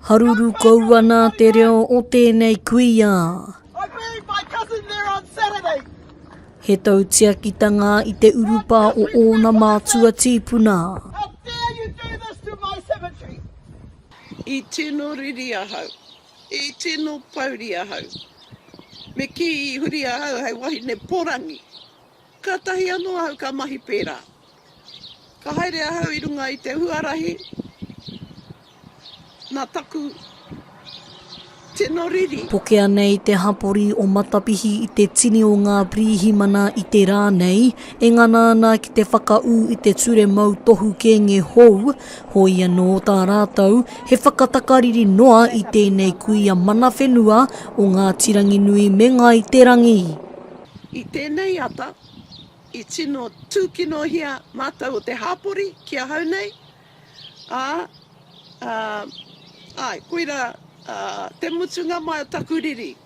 Haruru kou ana te reo o tēnei kuia. He tautiakitanga i te urupa o ōna mātua tīpuna. I tino riri ahau. I tino pouri ahau. Me kī i huri ahau hei wahine porangi. Kātahi anō ahau ka mahi pērā. Ka haere ahau i runga i te huarahi nā taku tino riri. Pokea nei te hapori o Matapihi i te tini o ngā Pirihimana i te rā nei, e ngana ana ki te whakaū i te ture mautohu kēnge hou, Koia nō tā rātou he whakatakariri noa i tēnei kuia mana whenua o Ngāti Ranginui me Ngāi Te Rangi. I tēnei ata, i tino tūkinohia mātou o te hāpori ki ahau nei, ā, āe, koirā te mutunga mai o taku riri.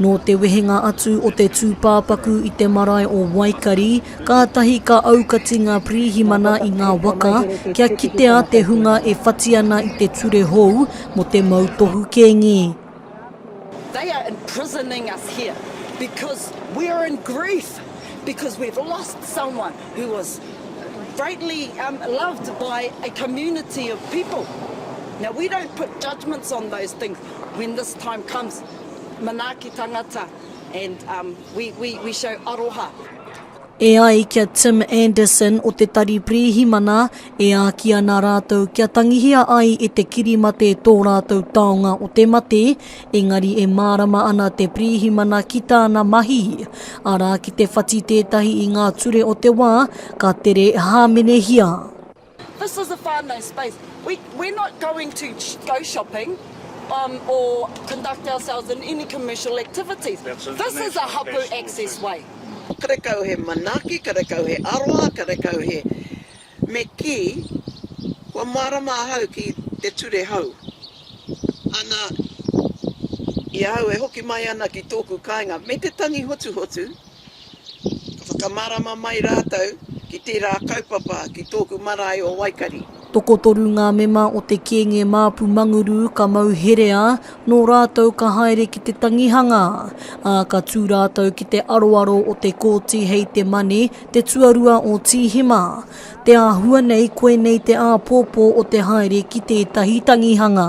Nō te wehenga atu o te tūpāpaku i te marae o Waikari, kātahi ka aukati ngā pirihimana i ngā waka kia kitea te hunga e whati ana i te ture hou mō te mautohu kēngi. They are imprisoning us here because we are in grief because we have lost someone who was greatly loved by a community of people. Now we don't put judgements on those things when this time comes. Manaaki tangata and um we we we show aroha. E ai ki a Tim Anderson o te Tari Pirihimana, e āki ana rātou kia tangihia ai e te kirimate tō rātou taonga o te mate, engari e mārama ana te pirihimana ki tāna mahi. Arā ki te whati tētahi i ngā ture o te wā, ka tere hāmenehia. This is a whānau space, we we're not going to go shopping um or conduct ourselves in any commercial activities, this is a hapu access way. Karekau he manaaki, karekau he aroha, karekau he me kī, kua mārama ahau ki te ture hou. Ana, i ahau e hoki mai ana ki tōku kāinga me te tangi hotuhotu, Ka whakamārama mai rātou ki tērā kaupapa ki tōku marae o Waikari. Tokotoru ngā mema o te Kēnge Māpu Manguru ka mau herea, nō rātou ka haere ki te tangihanga, ā, ka tū rātou ki te aroaro o te Kōti hei te Mane, te tuarua o Tīhema. Te āhua nei koinei te āpōpō o te haere ki tētahi tangihanga.